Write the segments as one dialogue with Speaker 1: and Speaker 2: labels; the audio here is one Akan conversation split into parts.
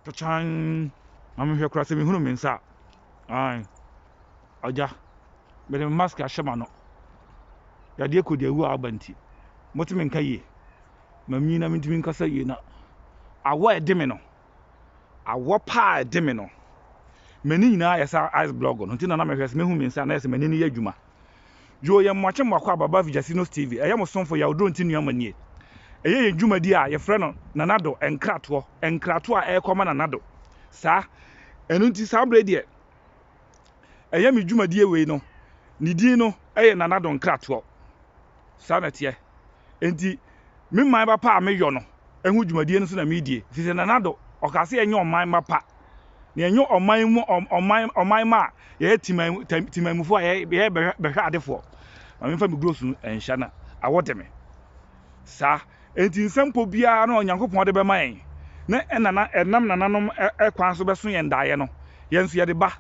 Speaker 1: Kyakyan, ma menhwɛ koraa sɛ mehunu me nsa a. Ae, Agya, mede me mask ahyɛ m'ano. Yadeɛ kɔ deɛ awu a aba nti, mote me nka yie. Mamnyin na mentumi nkasa yie na awɔ a ɛde me no, awɔ pa a ɛde me no, m'ani nyinaa ayɛ sɛ ice block no nti na na mehwɛ sɛ mɛhu me nsa a na ayɛ sɛ m'ani no yɛ adwuma. Yoo yɛ mmoakye mmoako aba ba Vijasinos TV ɛyɛ mo somfo Yaw Dronti Nuamma nie ɛyɛ yɛn dwumadi a yɛfrɛ no Nana Do Nkratoɔ nkratoɔ a ɛrekɔ ma Nana Do saa ɛno nti saa berɛ yi deɛ ɛyɛ me dwumadie wei no ne din no ɛyɛ Nana Do Nkratoɔ saa na ɛteɛ. Ntsi me mbanba pa a meyɔ no ho dwumadie no so na meedie. Firi sɛ Nana Addo, ɔkaa sɛ yɛnyɛ ɔmanba pa, na yɛnyɛ ɔman mu ɔman ɔmanma a yɛyɛ teman temanmufoɔ a yɛyɛ yɛyɛ bɛhwɛ bɛhwɛadefoɔ. Ma memfa me gurosu no nhyɛ na awɔ de me. Saa enti nsɛmpɔ biara no a Onyankopɔn de bɛma yɛn ne ɛnana ɛnam nananom kwan so bɛso yɛn daeɛ no, yɛn nso yɛde ba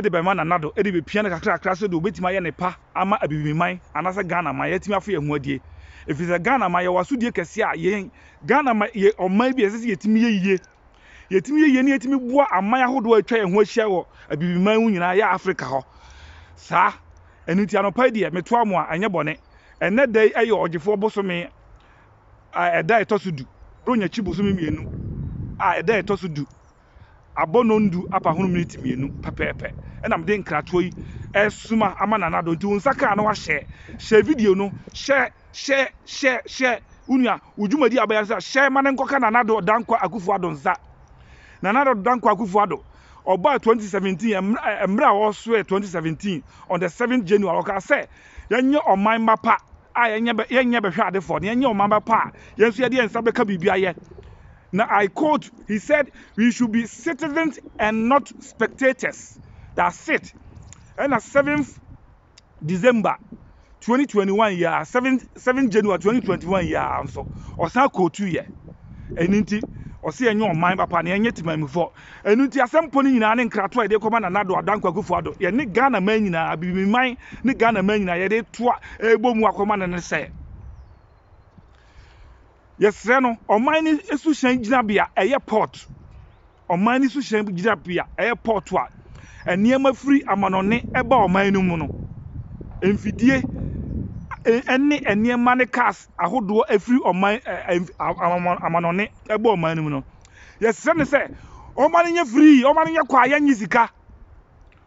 Speaker 1: de bɛma Nana Addo de bɛpia no kakrakra sɛdeɛ ɔbɛtumi ayɛ ne pa. ama Abibiman anaasɛ Ghana man yɛatumi afo yɛn ho adie. Ɛfiri sɛ Ghana man yɛwɔ asodie kɛseɛ a yɛn Ghana man yɛ ɔman bi a ɛsɛ sɛ yɛtumi yɛ yie. Yɛtumi yɛ yie na yɛtumi boa aman ahodoɔ a atwa yɛn ho ahyia wɔ Abibiman mu nyinaa yɛ Africa hɔ saa. Ɛno nti anɔpa yi deɛ metoa mo a ɛnyɛ bɔne. Ɛnnɛ da yi yɛ ɔgyefoɔ bosome a ɛda a ɛtɔ so du. Bronnyakyi bosome mmienu a ɛda a ɛtɔ so du. abɔnondu apahunu miniti mmienu pɛpɛɛpɛ na mede nkratoɔ yi ɛresoma ama Nana Addo nti wo nsa kaa na wahyɛɛ hyɛɛ video no hyɛɛ hyɛɛ hyɛɛ hyɛɛ wo nua wo dwumadie a wobɛyɛ no sɛ hyɛɛ ma no nkɔka Nana Addo Dankwa Akufo Addo nsa Nana Addo Dankwa Akufo Addo ɔbaa 2017 ɛmmerɛ a ɔsoɛɛ 2017 on the 7th January ɔkaa sɛ yɛnyɛ ɔman mma pa a yɛnyɛ bɛ yɛnyɛ bɛhwɛadefoɔ na yɛnyɛ ɔman bɛ pa a, yɛn nso yɛde yɛn nsa bɛka biribi ayɛ. Na I quote, he said we should be citizens and not spectators. That's it. Ɛna 7th December 2021 yi a 7 7 January 2021 yi a nso ɔsan quote yɛ. Ɛno nti ɔse yɛnyɛ ɔman papa na yɛnyɛ temammufoɔ. Ɛno nti asɛm pɔ no nyinaa ne nkrato a yɛde rekɔma Nana Addo Adan Kwaku Foah Addo, yɛne Ghana man nyinaa, Abibimi man ne Ghana man nyinaa yɛde reto a ɛrebɔ mu akɔma no ne sɛ, yɛsrɛ no ɔman no suhyɛn gyinabea ɛyɛ port, ɔman no suhyɛn gyinabea ɛyɛ port a nneɛma firi amanɔne ɛba ɔman no mu no, mfidie ɛne nneɛma ne cars ahodoɔ ɛfiri ɔman amanɔne ɛba ɔman no mu no. Yɛsrɛ no sɛ ɔmma no nyɛ free, ɔmma no nyɛ kwaeɛ nye sika.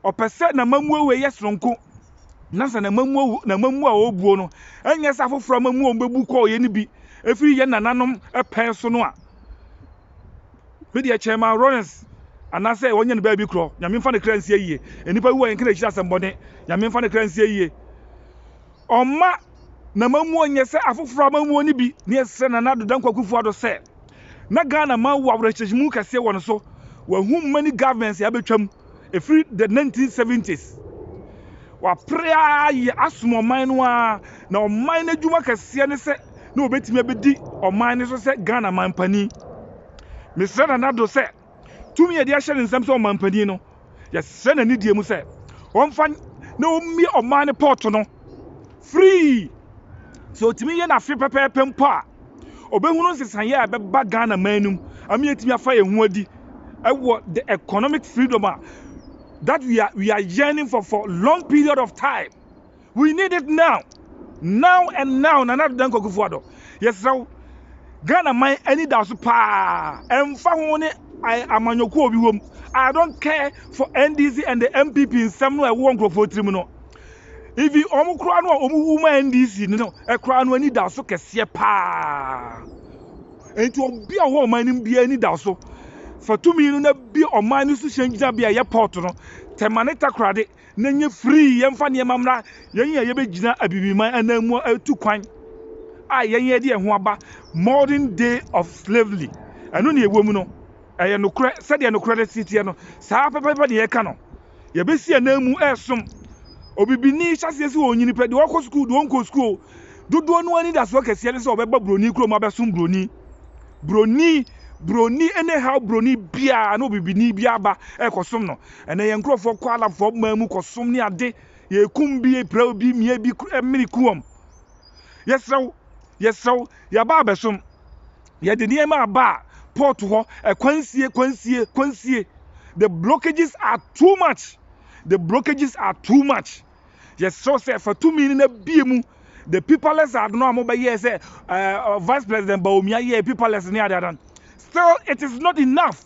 Speaker 1: Ɔpɛ sɛ n'amammuo wei yɛ sononko na sɛ n'amammuo a ɔrebuo no nyɛ sɛ afoforɔ amammuo a wɔbɛbu kɔeɛ no bi firi yɛn nananom pɛn so no a. Me deɛ Chairman Lawrence anaasɛ wɔnyɛ no baabi korɔ, Nyame mfa ne kra nsi ayie. Nnipa bi wɔ yɛnka n'akyiri asɛmmɔne, Nyame mfa ne kra nsi ayie. Ɔmma n'amammuo nyɛ sɛ afoforɔ amammuo no bi. Ne yɛsrɛ Nana Ado Dankwa Akufo-Addo sɛ, na Ghana man wɔ awerɛhyɛmu kɛseɛ wɔ ne so. Wahu many governments a abɛtwam ɛfiri the 1970s. Wapere ara yɛ asom ɔman no ara, na ɔman no adwuma kɛseɛ ne sɛ na ɔbɛtumi abɛdi ɔman no so sɛ Ghana manpanin. Mesrɛ Nana Addo sɛ tumi a yɛde ahyɛ ne nsam sɛ ɔmanpanin no, yɛsrɛ no anidie mu sɛ ɔmfa na ɔmmue ɔman no pɔɔto no firii. Sɛ ɔtumi yɛ no afe pɛpɛɛpɛ mpo a, ɔbɛhunu nsesaeɛ a ɛbɛba Ghana man no mu ama yɛatumi afa yɛn ho adi wɔ the economic freedom a that we are, we are yearning for for long period of time. We need it now, now and now Nana Ado Dankwa Akufo Addo, yɛsrɛ wo, Ghana man ani da wo so paa, ɛmfa ho wo ne amanyɔkuo a obi wom, I don't care for NDC and the NPP nsɛm no a ɛwowɔ nkurɔfoɔ tirim no, even wɔn koraa no a wɔn wu ma NDC no koraa no ani da wo so kɛseɛ paa, enti obi a ɔwɔ ɔman no mu biara ani da wo so, fa tumi no na bie ɔman no suhyɛn gyinabea a ɛyɛ port no, Tɛmane Takoradi. na ɛnyɛ free, yɛmfa nneɛma mmra yɛn yɛ a yɛbɛgyina abibiman ananmu a ɛtu kwan a yɛn yɛde ɛho aba modern day of slavery. Ɛno na ɛwɔ mu no, ɛyɛ nokorɛ, sɛdeɛ nokorɛ no teɛ no, saa pɛpɛpɛ na yɛka no. Yɛbɛsi ananmu ɛresom. Obibini hyɛseɛ sɛ ɔnyini pɛ, deɛ ɔkɔ sukuu, deɛ ɔnkɔ sukuu, dodoɔ no anidasoɔ kɛseɛ ne sɛ ɔbɛba buroni kurom abɛsom buroni. Buroni, buroni, anyhow buroni biara na obibini biara ba ɛrekɔsom no. Ɛnɛ yɛn nkurɔfoɔ kɔ Arabfoɔ man mu kɔsom ne ade, yɛkum bi, yɛpira obi, mia bi, mene ku wɔn. Yɛsrɛ wo, yɛsrɛ wo, yɛaba abɛsom. Yɛde nneɛma aba a, port hɔ, ɛkwan sie, kwan sie, kwan sie. The blockages are too much, the blockages are too much. Yɛsrɛ wo sɛ fa tumi no na bie mu. The paperless ad no a mobɛyɛɛ sɛ uh, Vice President Bawumia yɛɛ paperless ne adeadan. Still, it is not enough.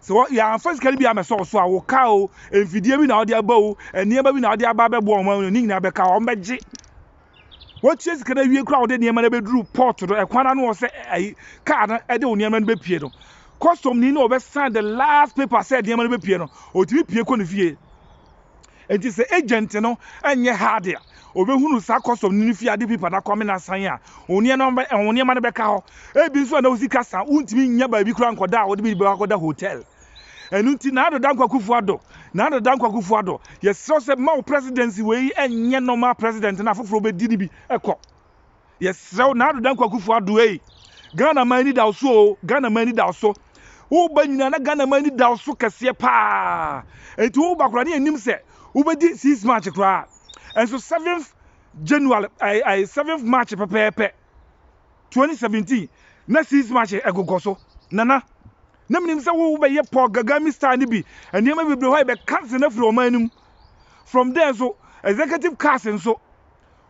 Speaker 1: Sɛ wɔ, yɛamfa sika no bi ammɛsɔ wo so a, wo car o, mfidie bi na wode aba o, nneɛma bi na wode aba abɛboa wɔn ano, ne nyinaa bɛka hɔ, wɔbɛgye. Woatua sika no awie koraa a wode nneɛma no abɛduru port no, ɛkwan no ano hɔ sɛ ayi, car no de wo nneɛma no bɛpue no, customni no na ɔbɛsan the last paper sɛ nneɛma no bɛpue no, ɔtumi pue kɔ ne fie. Enti sɛ agent no nyɛ hard a, obehunu saa custom no ne fie ade paper no akɔ amena asan a, wo nneɛma no bɛka hɔ. Ebi nso a na wo sika sa a, wuntumi nnya baabi koraa nkɔda a wode biribi bɛkɔ akɔda hotel. Ɛno nti, Nado Dankwa Akufo-Addo, Nana Dankwa Akufo-Addo, yɛsrɛ wo sɛ ma wo presidency wei nyɛ normal president na afoforo bedi no bi kɔ. Yɛsrɛ wo Nado Dankwa Kufuor Addo ei, Ghana man ani da wo so oo, Ghana man ani da wo so. Woba nyinaa na Ghana man ani da wo so kɛseɛ paa. Enti woba koraa na yɛnnim sɛ wobɛdi six March koraa. Nso seventh January, ai, ai, seventh March pɛpɛɛpɛ 2017 na six March ɛgogɔ so. Nana, na menim sɛ wo wobɛyɛ Paul Gagami style no bi, nneɛma bebree hɔ a yɛbɛcancel no afiri ɔman no mu. From there nso, executive cars nso,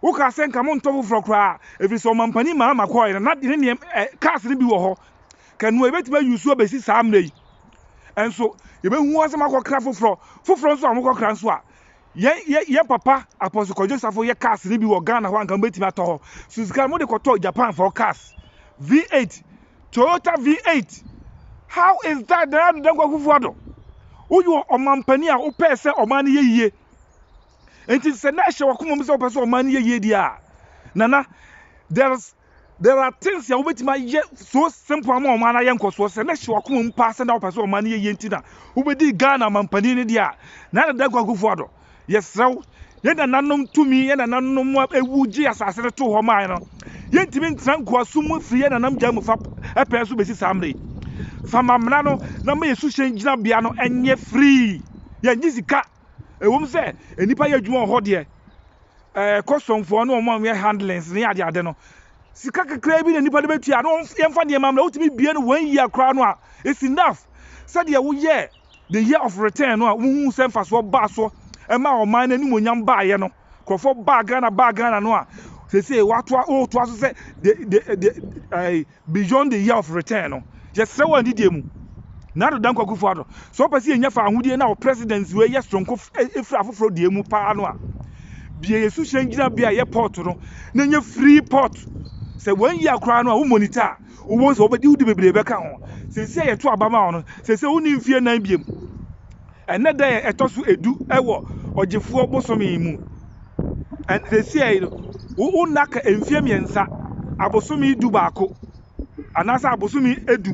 Speaker 1: Wokaa sɛ nka montɔ foforɔ koraa ɛfiri sɛ ɔmampanin Mahama kɔɔɛ no na ne nneɛm ɛ cars no bi wɔ hɔ kanoa yɛbɛtumi a use abɛsi saa mmerɛ yi nso yɛbɛhu wɔn sɛ moakɔkra foforɔ foforɔ nso a mokɔkra nso a yɛn yɛn papa Apostle Kwadwo Safo yɛ cars no bi wɔ Ghana hɔ anka mobɛtumi atɔ hɔ so sika mode kɔtɔ Japan for cars V8 Toyota V8 how is that Nana Addo Dankwa Akufo-Addo woyɛ ɔmampanin a wopɛɛ sɛ ɔman no yɛ yie Enti sɛ na ɛhyɛ w'akoma mu sɛ wopɛ sɛ ɔman no yɛ yie deɛ a, nana, there's there are things a wobɛtumi ayɛ so simple ama ɔman no ayɛ nkɔsoɔ. Sɛ na ɛhyɛ w'akoma mu paa sɛ na wopɛ sɛ ɔman no yɛ yie nti na wobɛdii Ghana mampanin no deɛ a, Nana Dankwa Akufo-Addo, yɛsrɛ wo, yɛn nananom tumi, yɛn nananom a ɛwu gye asase no too hɔ mae no, yɛntumi ntra nkoasom mu firi yɛn nanam gya mu fa pɛɛ so bɛsi saa mmerɛ yi. Fa ma mmara no na ma yɛn suhyɛn gyinabea no nyɛ free, yɛngye sika. Ɛwom sɛ nnipa yɛ adwuma wɔ hɔ deɛ, ɛɛ kɔsɔmfoɔ ne wɔn a wɔyɛ handlings ne ade ade no, sika kakraa bi na nnipa de bɛtua na wɔn yɛmfa nneɛma mmra. Wotumi bie no one year koraa no a, it's enough. Sɛdeɛ woyɛɛ the year of return no a wohuu sɛ mfasoɔ baa so ɛmaa ɔman no animuonyam baeɛ no. Nkurɔfoɔ baa Ghana baa Ghana no a sɛsɛ watoa wotoa so sɛ the the the ɛɛ beyond the year of return no yɛsrɛ wɔ adidie mu na adoda nkwakufoɔ ado sɛ ɔpɛ sɛ yɛnya fa ahodie na wɔ presidency wei yɛ soronko efiri afoforɔ deɛ mu paa no a bia yɛ suhyɛn gyina bia yɛ port no na nyɛ free port sɛ wɔn yi akoraa no a wo monitor a wowɔ sɛ wɔbɛdi wodi bebree bɛka ho sɛsɛ yɛto abama wɔn sɛsɛ wonni mfie nan biem Ɛnnɛ da yɛ ɛtɔ so edu wɔ ɔgyefoɔ bosome yi mu. Ɛn, seesei yi no, wo, wo nna ka mfie mmiɛnsa, abosome du baako, anaasɛ abosome du,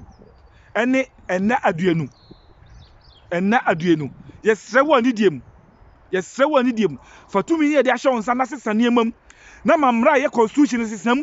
Speaker 1: ɛne nna aduonu. Nna aduonu. Yɛsrɛ wo anidie mu, yɛsrɛ wo anidie mu, fa tumi yi a yɛde ahyɛ wo nsa no na sesa nneɛma mu, na ma mmara a ɛyɛ constitution no sesa mu.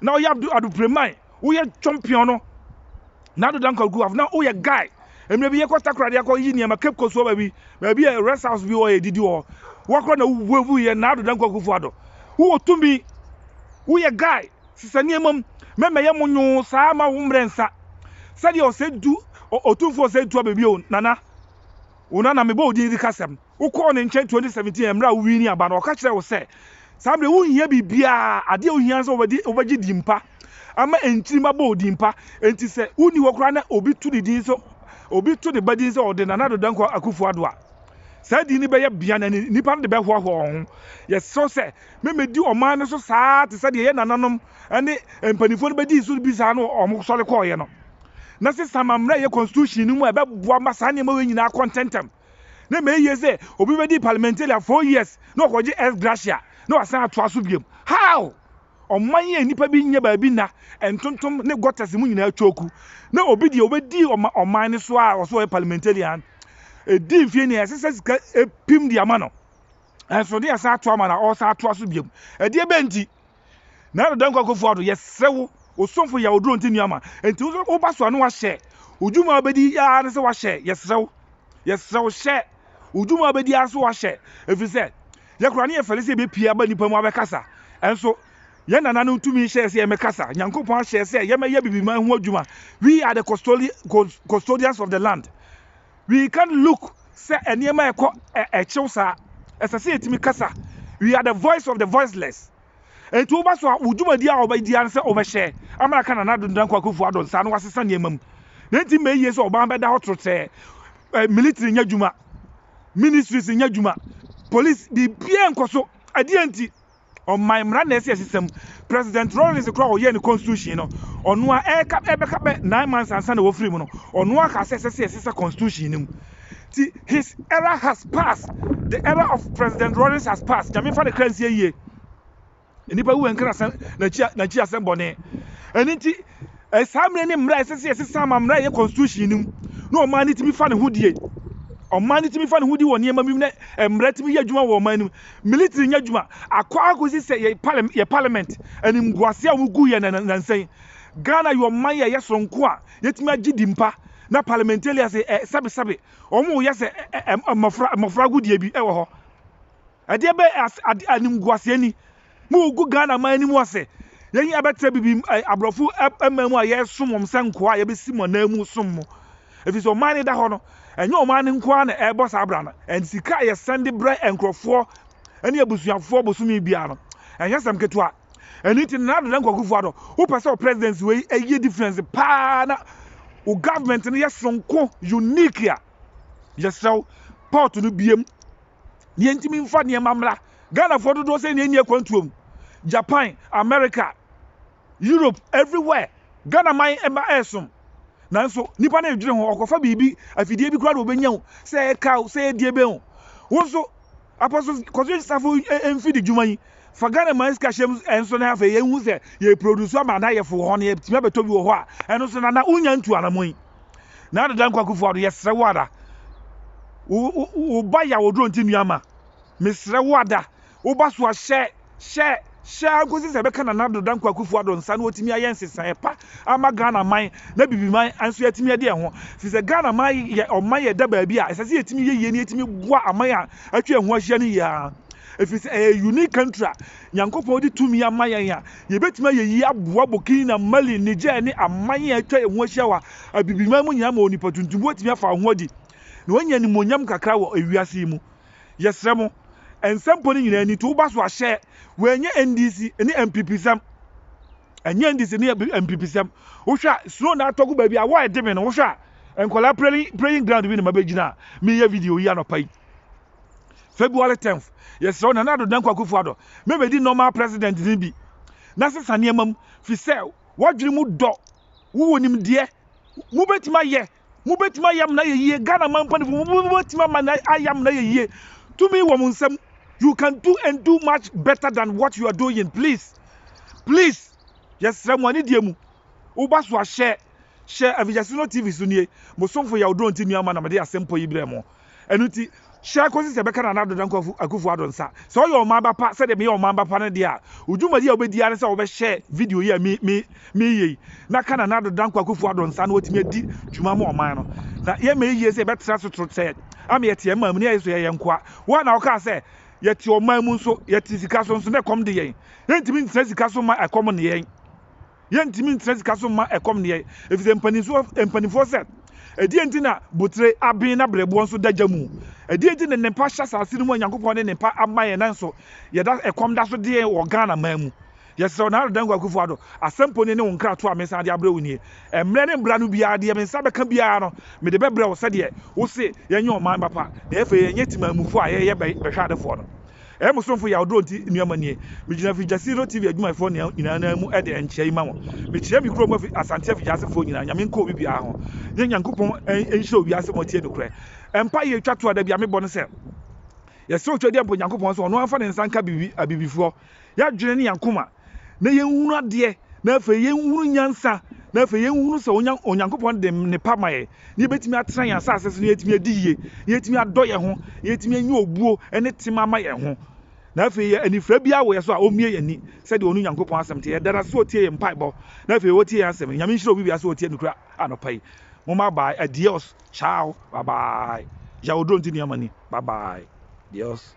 Speaker 1: na ɔyɛ abdu adu preman woyɛ chɔmpiɔn no na ado danko agu af na woyɛ guy mmerɛ bi yɛkɔ takoradi akɔ yi nneɛma cape coast wɔ baabi baabi yɛ rest house bi wɔ yɛ didi wɔ wakora na wubu yɛ na ado danko akufo ado wowɔ tumi woyɛ guy sisa nneɛma mu mɛmɛyɛ mo nyoo saa ma wo mmerɛ nsa sɛdeɛ ɔsɛ du ɔtumfoɔ ɔsɛ du abɛbio nana wo nana mebɔ odin di kasɛm Wokɔɔ ne nkyɛn twenty seventeen mmerɛ a wo wiinii aba no, ɔka kyerɛɛ wo sɛ, saa mmerɛ yi wo nhia biribiara, adeɛ a wo hia ne sɛ wo bɛgye din pa ama nkyiri mma bɔ wo din pa. Enti sɛ wo nni hɔ koraa na obi to ne din sɛ, obi to ne ba din sɛ ɔde Nana Addo Dankwa Akuffo Addo a, saa din no bɛyɛ bea na nnipa no de bɛhoahoa wɔn ho. Yɛsrɛ wo sɛ me mmɛdi ɔman no so saa ara te sɛ deɛ yɛn nananom ne mpanimfoɔ no bɛdii so bi saa no wɔn sɔre kɔeɛ no, na sesa ma mmerɛ a ɛyɛ Constitution no mu a ɛbɛboa ma saa nneɛma wei nyinaa akɔ ntɛntɛm. na ɛma ɛyɛ yie sɛ obi bɛdi parliamentaria four years na ɔkɔgye ex gratia na wasan atoa so biom. How? Ɔman yi a nnipa bi nyɛ baabi nna, ntontom ne gutters mu nyinaa atwa oku, na obi deɛ ɔbɛdi ɔma ɔman no so a ɔse ɔyɛ parliamentarian ɛdi mfeɛ ni a ɛsɛ sɛ sika ɛpim de ama no nso na yɛsan atoa ma no a ɔresan atoa so biom. Ɛdeɛ bɛn nti? Na Dada Nkoa Akuffo Addo, yɛsrɛ wo, wo somfo yɛ Oduro Nti nua ma nti wo nso woba so a na wahyɛ, wo dwuma a wobɛdi ara ne sɛ wahyɛ, yɛsrɛ wo, yɛsrɛ wo hyɛ, wo dwuma a wobɛdi ara so wahyɛ, ɛfiri sɛ yɛ koraa na yɛfɛre sɛ yɛbɛpue aba nnipa mu abɛkasa, nso yɛn Nana no tumi hyɛɛ sɛ yɛmmɛkasa, Nyankopɔn ahyɛ sɛ yɛmmɛyɛ biribi ma ɛho adwuma, we are the custodians of the land. We can't look sɛ nneɛma a ɛkɔ ɛkyew saa. Ɛsɛ sɛ yɛtumi kasa. We are the voice of the voiceless. Enti woba so a, wo dwumadi a wobɛdi ara ne sɛ wobɛhyɛ ama aka Nana Addo Dankwa Akufo-Addo nsa na wɔasesa nneɛma mu. Na enti mmɛ yiye sɛ ɔban bɛda hɔ trotrɛɛ. Ɛ, militiri nyɛ adwuma, ministries nyɛ adwuma, police, biribiara nkɔ so. Ɛdeɛn nti? ɔman mmara na ɛsi asisɛm. President Rawlings koraa a ɔyɛɛ ne constitution no, ɔno ara ɛreka ɛbɛka bɛ nine months ansa na wɔfiri mu no, ɔno ara kaa sɛ ɛsɛ sɛ yɛsesa constitution no mu. Ti his era has passed, the era of President Rawlings has passed, Nyame mfa ne kra nsie yie. Nnipa wu nka n'asɛm n'akyi n'akyi asɛm bɔne. Ɛno nti Saa mmere ne mmere a ɛsɛ sɛ yɛsesa ma mmere a ɛyɛ constitution no mu na ɔman no tumi fa ne ho die. Ɔman no tumi fa ne ho di wɔ nneɛma bi mu na mmara tumi yɛ adwuma wɔ ɔman no mu. Military nyɛ adwuma akɔ akɔsi sɛ yɛ parliament yɛ parliament animguase a wɔgu yɛ na nansa yi. Ghana yɛ ɔman yɛ ɛyɛ soronko a yɛtumi agye di mpa na parliamentarians ɛ sɛbesɛbe wɔn yɛ sɛ mmɔfra mmɔfra agodie bi wɔ hɔ. Ɛdeɛ bɛ ase ade animguaseɛ ni mo regu Ghana man no mu ase yɛn yi abɛtra bibi aborɔfo man mu a yɛresom wɔn sɛ nkoa a yɛbɛsi mo anan mu som mo ɛfiri sɛ ɔman no da hɔ no ɛnyɛ ɔman no nko ara na ɛrebɔ saa bra no and sika a yɛsɛn de brɛ nkurɔfoɔ ne abusuafoɔ bosome biara no ɛnyɛ sɛm ketewa ɛno nti Nana Addo Dankwa Akufo Addo wopɛ sɛ wo presidency wei ɛyɛ difference paa na wo government no yɛ sonko unique a yɛsrɛ wo port no biem deɛ nti memfa nneɛma mmra ghanafoɔ dodoɔ sɛ nea ɛni akwantuo mu japan america europe everywhere ghana man ɛma ɛsom nanso nipa no ɛdwene ho ɔkɔfa biribi afidie bi koraa na ɔbɛnya wo sɛ ɛka wo sɛ ɛdie bɛn wo wo nso apɔso kɔso safo mfidi dwuma yi fa ghana man sika hyɛm ɛnso na afei yɛhu sɛ yɛproduce ama na yɛfo hɔ no yɛtumi abɛtɔ bi wɔ hɔ a ɛno so na na wonya ntu anamɔ yi Nana Dankwa Akufo-Addo, yɛsrɛ wo ada, wo ba yaw oduro nti nua ma, mesrɛ wo ada, wo ba so a hyɛ, hyɛ, hyɛ ara nkosi sɛ ɛbɛka Nana Addo Dankwa Akufo-Addo nsa na watumi ayɛ nsesaeɛ pa ama Ghana man na Bibiman nso yɛatumi adi ɛho. Firi sɛ Ghana man yɛ ɔman yɛda baabi a ɛsɛ sɛ yɛtumi yɛ yie na yɛtumi boa aman a atwa yɛn ho ahyia no yie ara. Ɛfiri sɛ ɛyɛ unique country a Nyankopɔn de tumi ama yɛn a, yɛbɛtumi ayɛ yie aboa Burkina, Mali, Niger ne aman a atwa yɛn ho ahyia wɔ Abibiman mu nyinaa ma onipa tuntum bi watumi afa wɔn ho adi na wanya animuonyam kakra wɔ ewiase yi mu. Yɛsrɛ mo, nsɛmpɔ no nyinaa ni, to wo ba so ahyɛ, wɔanyɛ NDC ne NPP sɛm, ɛnyɛ NDC ne NPP sɛm. Wohwɛ a, snow na atɔ gu baabi a, wɔ ɛde me no, wohwɛ a, nkwadaa playing, playing ground bi na mabɛgyina a, meyɛ video yi anɔpa yi. February tenth, Yɛsrɛ wo Nana Addo Dankwa Akufo Addo ma bedi nnoɔma a President no bi na sesa nneɛma mu firi sɛ w'adwene mu dɔ, wowɔ nimdeɛ, mobɛtumi ayɛ, mobɛtumi ayɛ amena ayɛ yie, Ghana man mpaninfoɔ mobɛtumi ama no ayɛ amena ayɛ yie, tumi wɔ mo nsam, you can do and do much better than what you are doing, please, please, yɛsrɛ mo anidie mu, wo ba so ahyɛ, hyɛ Avigyasino TV so nie, mo somfo Yaw Dɔnti Nuamah na mede asɛmpɔ yi brɛ mo. Ɛno nti, hyia kosi sɛ ɛbɛka Nana Addo Dankwa Akufo Addo nsa. Sɛ ɔyɛ ɔman ba pa sɛdeɛ meyɛ ɔman ba pa no deɛ a, wo dwumadi a wobɛdi ara ne sɛ wobɛhyɛ video yi a mereyɛ yi na ka Nana Addo Dankwa Akufo Addo nsa na watumi adi dwuma ama ɔman no. Na yɛmma yɛyie sɛ yɛbɛtra so trotɛɛ ama yɛte yɛn man mu na yɛayɛ sɛ yɛyɛ nkoa. Wo ara na wokaa sɛ, Yɛte ɔman mu nso, yɛte sika so nso na ɛkɔm de yɛn. Yɛntumi ntena sika so mma ɛkɔm nne yɛn. Yɛntumi ntena sika so mma ɛkɔm nne yɛn, efisɛ mpanimfoɔ sɛ, Ɛdeɛn nti na botire aben na berɛboɔ nso da gya mu? Ɛdeɛn nti na nnepa hyɛ asase no mu a Nyankopɔn de nnepa ama yɛn nanso yɛda ɛkɔm da so de yɛn wɔ Ghana man mu? Yɛsrɛ wo Nana Dankwa Akufo-Addo, asɛm poni ne wo nkratoɔ a mesan de abrɛ wo nie. Mmerɛ ne mbra no biara deɛ me nsa bɛka biara no mede bɛbrɛ wo sɛdeɛ wose yɛnyɛ ɔman ba pa na afei yɛnyɛ temanmufoɔ a yɛyɛ bɛhwɛadefoɔ no. Ɛyɛ me somfo yaw duro nti nnuama nie. Megyina Fijasino TV adwumayɛfoɔ nyinaa nan mu de nkyea yi ma mo. Mekyea me kurom fi Asanteɛ Fijaasefoɔ nyinaa, Nyame nka obi biara ho. Yɛ Nyankopɔn nhyira owiase ma ɔtie nokorɛ. Mpaeɛ yɛ twa toɔ a da biara mebɔ ne sɛ, Yɛsrɛ wo Twedeɛ mpo Nyankopɔn sɛ ɔno ara mfa ne nsa nka Abibifoɔ. Yɛadwene ne yɛn akoma. na yɛnhunu adeɛ, na afei yɛnhunu nyansa, na afei yɛnhunu sɛ Onya, Onyankopɔn de nnepa ma yɛn, na yɛbɛtumi atena yɛn asase so, na yɛatumi adi yie, na yɛatumi adɔ yɛn ho, na yɛatumi anya obuo ne tema ama yɛn ho. Na afei yɛ anifira biara wɔ yɛn so a, ɔmmie yɛn ani, sɛdeɛ ɔnu Nyankopɔn asɛm teɛ. Yɛda no ase sɛ ɔtie yɛn mpaebɔ, na afei ɔtie yɛn asɛm. Nyame nhyira obi biara sɛ ɔtie nokora anɔpa yi. Moma bye, adios, ciao, bye bye. Jaodronti Niamani, bye bye, dios.